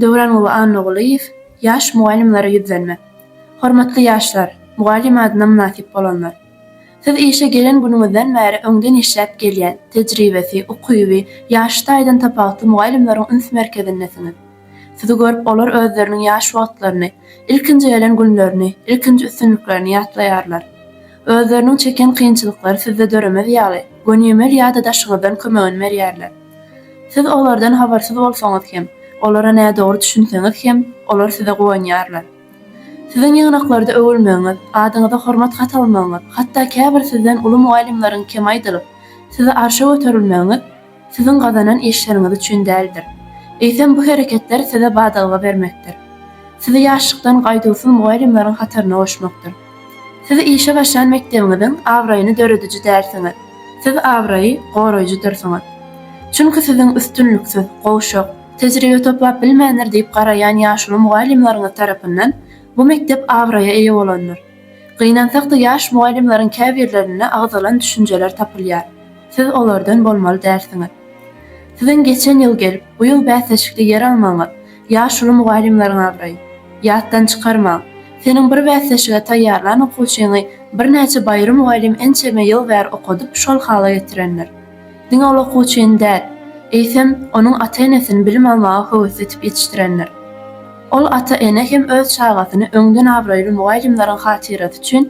Döwran uly Annagulyýew ýaş mugallymlara ýüzlenme. Hormatly ýaşlar, mugallym adyna mynasyp bolanlar! Siz işe gelen günüňizden bäri öňden işläp gelýän, tejribesi, ukyby, ýaşy taýdan tapawutly mugallymlaryň üns merkezindesiňiz. Sizi görüp olar özleriniň ýaş wagtlaryny, ilkinji gelen günlerini, ilkinji üstünliklerini ýatlaýarlar. Özleriniň çeken kynçylyklary sizde döremez ýaly, gönümel ýada daşyňyzdan kömegini berýärler. Siz olardan habarsyz bolsaňyz hem, olara nädogry düşünseňiz hem, olar size guwanýarlar. Siziň ýygnaklarda öwülmegiňiz, adyňyza hormat hat almagyňyz, hatda käbir sizden uly mugallymlaryň kem aýdylyp, sizi arşa göterilmegiňiz siziň gazanan işleriňiz üçin däldir. Eýsem, bu hereketler size badalga bermekdir. Sizi ýaşlykdan gaýduwsyz mugallymlaryň hataryna goşmakdyr. Siz işe başlan mekdebiňiziň abraýyny dörediji dälsiňiz, siz abraýy goraýjydyrsyňyz. Çünki siziň üstünliksiz, gowşak, tejribe toplap bilmändir diýip garaýan ýaşuly mugallymlaryňyz tarapyndan bu mekdep abraýa eýe bolandyr. Gynansakda ýaş mugallymlaryň käbirlerinde agzalan düşünjeler tapylýar. Siz olardan bolmaly dälsiňiz. Siziň geçen ýyl gelip, bu ýyl bäsleşikde ýer almagyňyz, Ýaşuly mugallymlaryň abraýy. Ýatdan çykarmaň! Seniň bir bäsleşige taýýarlan okuwçyňy birnäçe baýry mugallym ençeme ýyl bäri okadyp şol hala getirendir. Diňe ol okuwçyny däl, eýsem, onuň ata-enesini bilim almaga höwesletip ýetişdirendir. Ol ata-ene hem öz çagasyny öňden abraýly mugallymlaryň hatyrasy üçin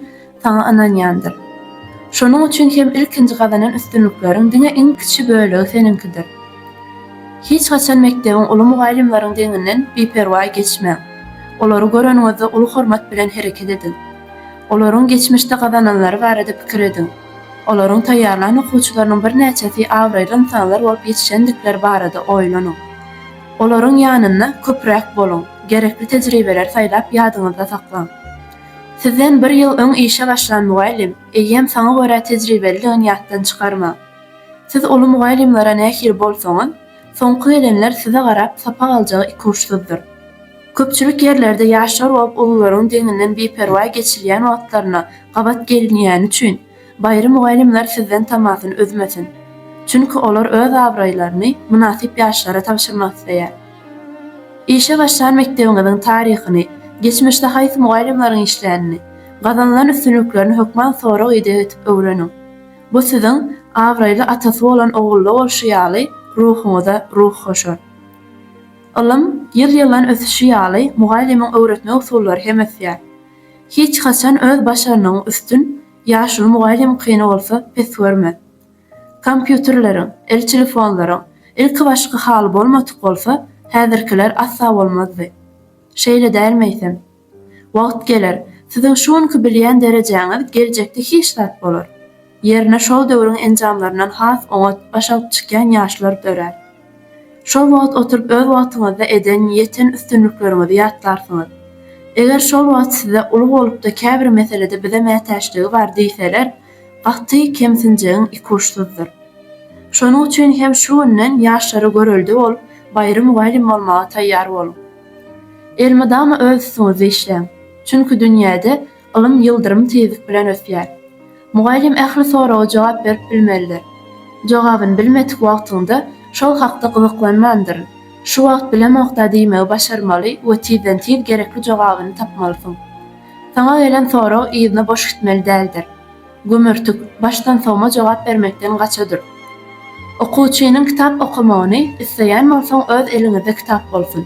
saňa ynanýandyr. Şonuň üçin hem ilkinji gazanan üstünlikleriň diňe iň kiçi bölegi seniňkidir. Hiç haçan mekdebiň uly mugallymlaryň deňinden biperwaý geçmäň. Olary göreniňizde uly hormat bilen hereket ediň. Olaryň geçmişde gazananlary barada pikir ediň. Olaryň taýýarlan okuwçylarynyň birnäçesi abraýly ynsanlar bolup ýetişendikleri barada oýlanyň. Olaryň ýanynda köpräk boluň, gerekli tejribeleri saýlap ýadyňyzda saklaň. Sizden bir ýyl öň işe başlan mugallym, eýýäm saňa görä tejribelidigini ýatdan çykarma. Siz uly mugallymlara nähili bolsaňyz, soňky gelenler size garap sapak aljagy ikuçsyzdyr. Köpçülik ýerlerde ýaşlar bolup ulularyň deňinden biperwaý geçilýän wagtlaryna gabat gelinýäni üçin, Baýry mugallymlar sizden tamasyny üzmesin. Çünki olar öz abraýlaryny mynasyp ýaşlara tabşyrmak isleýär. Işe başlan mekdebiňiziň taryhyny, geçmişde haýsy mugallymlaryň işlänini, gazanylan üstünliklerini hökman sorag-ideg edip öwreniň. Bu siziň abraýly atasy bolan ogulda bolşy ýaly ruhuňyza ruh goşar. Ylym ýyl-ýyldan ösüşi ýaly mugallymyň öwretme usullary hem ösýär. Hiç haçan öz başarnygyň üstün ýaşuly mugallym kyny bolsa pes görme. Kompýuterleriň, el telefonlaryň ilkibaşky haly bolmadyk bolsa häzirkiler asla bolmazdy. Şeýle dälmi eýsem? Wagt geler, siziň şu günki bilýän derejäňiz geljekde hiç zat bolar. Ýerine şol döwrüň enjamlaryndan has oňat, baş alyp çykýan ýaşlar dörär. Şol wagt oturyp öz wagtyňyzda eden, ýeten üstünlikleriňizi ýatlarsyňyz. Eger şol wagt size uly bolupda käbir meselede bize mätäçligi bar diýseler, gaty kemsinjegiň ikuçsyzdyr. Şonuň üçin hem şu günden ýaşlara görelde bolup, baýry mugallym bolmaga taýýar boluň. Elmydama öz üstüňizde işläň. Çünki dünýäde Ylym ýyldyrym tizlik bilen ösýär. Mugallym ähli soraga jogap berip bilmelidir. Jogabyny bilmedik wagtyňda şol hakda gyzyklanmandyryn, şu wagt bilemokda diýmegi başarmaly we tizden-tiz gerekli jogabyny tapmalysyň. Saňa gelen sorag yzyna boş gitmeli däldir. Gömertik, başdan sowma jogap bermekden gaçadyr. Okuwçynyň kitap okamagyny isleýän bolsaň öz eliňizde kitap bolsun.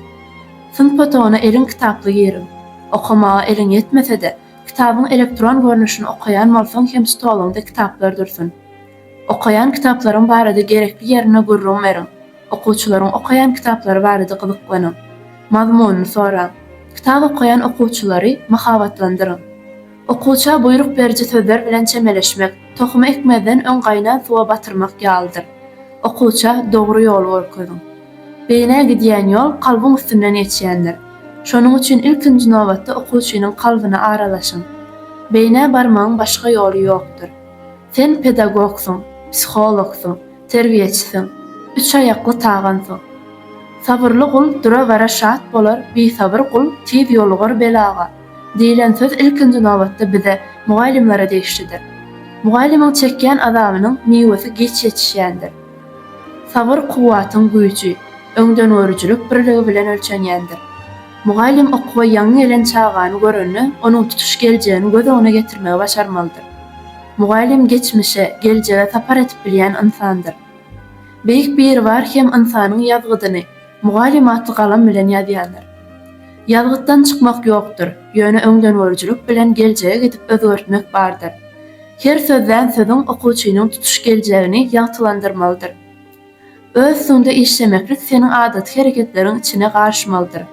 Synp otagyna eliň kitaply giriň. Okamaga eliň ýetmese-de, kitabyň elektron görnüşini okaýan bolsaň hem stoluňda kitaplar dursun. Okaýan kitaplaryň barada gerekli ýerinde gürrüň beriň. Okuwçylaryň okaýan kitaplary barada gyzyklanyň. Mazmunyny soraň. Kitap okaýan okuwçylary mahabatlandyryň. Okuwça buýruk beriji sözler bilen çemeleşmek, tohumy ekmezden öň gaýnan suwa batyrmak ýalydyr. Okuwça dogry ýoly görkeziň. Beýnä gidýän ýol kalbyň üstünden geçýändir. Şonuň üçin ilkinji nobatda okuwçynyň kalbyna aralaşyň. Beýnä barmagyň başga ýoly ýokdur. Sen pedagogsyň, psihologsyň, terbiýeçisiň, üç aýakly tagansyň. Sabyrly gul dura-bara şat bolar, bisabyr gul tiz ýolugar belaga. Diýlen söz ilkinji nobatda bize, mugallymlara degişlidir. Mugallymyň çekýän azabynyň miwesi giç ýetişýändir. Sabyr kuwwatyň güýji, öňdengörüjilik birligi bilen ölçenýändir. Mugallym okuwa ýaňy gelen çagany görende onuň tutuş geljegini göz öňüne getirmegi başarmalydyr. Mugallym geçmişe, geljege sapar edip bilýän ynsandyr. Beýik Biribar hem ynsanyň ýazgydyny, Mugallym atly galam bilen ýazýandyr. Ýazgytdan çykmak ýokdur, ýöne öňdengörüjilik bilen geljege gidip özgertmek bardyr. Her sözlän sözüň okuwçynyň tutuş geljegini ýagtylandyrmalydyr. Öz üstüňde işlemeklik seniň adaty hereketleriň içine garyşmalydyr,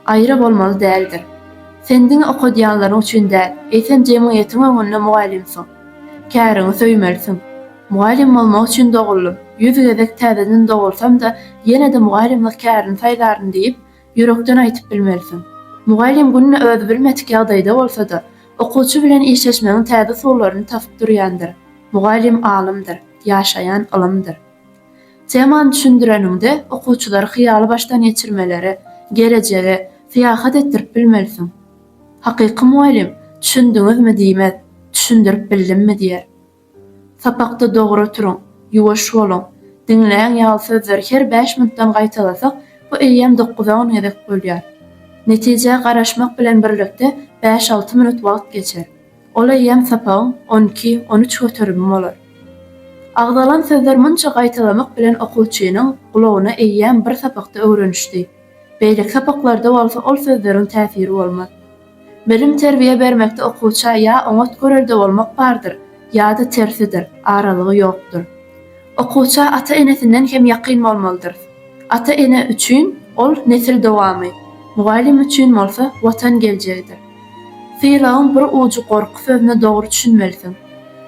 aýra bolmaly däldir. Sen diňe okadýanlaryň üçin däl, eýsem jemgyýetiň öňünde mugallymsyň. Käriňi söýmelisiň. Mugallym bolmak üçin doguldym. Ýüz gezek täzeden dogulsam-da, ýene-de mugallymlyk kärini saýlaryn diýip, ýürekden aýtyp bilmelisiň. Mugallym günde özi bilmedik ýagdaýda bolsa-da, okuwçy bilen işleşmegiň täze usullaryny tapyp durýandyr. Mugallym alymdyr, ýaşaýan ylymdyr. Temany düşündireniňde, okuwçylary hyýaly başdan geçirmelere, gelejege, syýahat etdirip bilmelisiň. Hakyky mugallym, Düşündiňizmi? diýmez, Düşündirip bildimmi? diýer. Sapakda dogry turuň, ýuwaş boluň, diňläň ýaly sözleri her bäş minutdan gaýtalasak, bu eýýäm dokuza-on gezek bolýar. Netijä garaşmak bilen birlikde bäş-alty minut wagt geçer. Ol eýýäm sapagyň on iki, on üç göterimi bolar. Agzalan sözler munça gaýtalamak bilen okuwçynyň gulagyna eýýäm bir sapakda öwrenişdi. Beýleki sapaklarda bolsa ol sözleriň täsiri bolmaz. Bilim-terbiýe bermekde okuwça ýa oňat görelde bolmak bardyr, ýa-da tersidir, aralygy ýokdur. Okuwça ata-enesinden hem ýakyn bolmalydyrys. Ata-ene üçin ol nesil dowamy, mugallym üçin bolsa Watan geljegidir. Sylagyň bir ujy gorky sözüne dogry düşünmelisiň.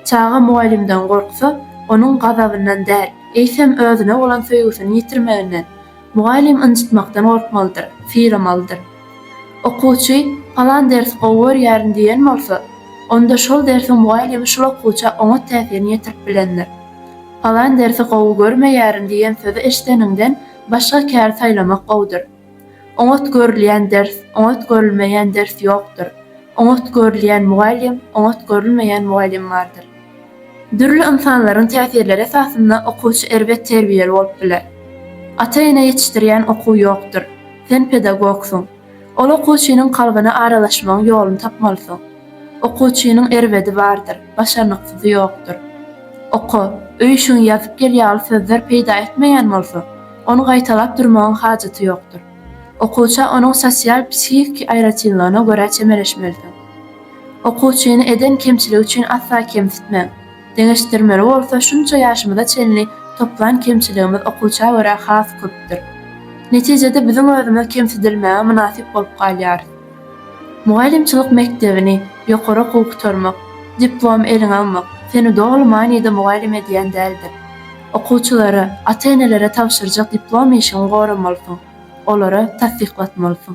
Çaga mugallymdan gorksa, onuň gazabyndan däl, eýsem özüne bolan söýgüsini ýitirmeginden, mugallym ynjytmakdan gorkmalydyr, sylamalydyr. Okuwçy Palan dersi gowy görýärin diýen bolsa, onda şol dersiň mugallymy şul okuwça oňat täsirini ýetirip bilendir. Palan dersi gowy görmeýärin diýen sözi eşideniňden başga kär saýlamak gowudyr. Oňat görülýän ders, oňat görülmeýän ders ýokdur. Oňat görülýän mugallym, oňat görülmeýän mugallym bardyr. Dürli ynsanlaryň täsirleri esasynda okuwçy erbet terbiýeli bolup biler. Ata-ene ýetişdirýän okuw ýokdur. Sen pedagogsyň. Ol okuwçynyň kalbyna aralaşmagyň ýoluny tapmalysyň. Okuwçynyň erbedi bardyr, başarnyksyzy ýokdur. Oka, öýşiňi ýazyp gel ýaly sözler peýda etmeýän bolsa, ony gaýtalap durmagyň hajaty ýokdur. Okuwça onuň sosial-psihiki aýratynlygyna görä çemeleşmelisiň. Okuwçyny eden kemçiligi üçin asla kemsitmäň. Deňeşdirmeli bolsa, şunça ýaşymyza çenli toplan kemçiligimiz okuwça görä has köpdür. Netijede biziň özümiz kemsidilmäge mynasyp bolup galýarys. Mugallymçylyk mekdebini, ýokary okuwy gutarmak, diplom eliňe almak seni doly manyda mugallym edýän däldir. Okuwçylara, ata-enelere tabşyrjak diplom işiňi goramalysyň, olara tassyklatmalysyň.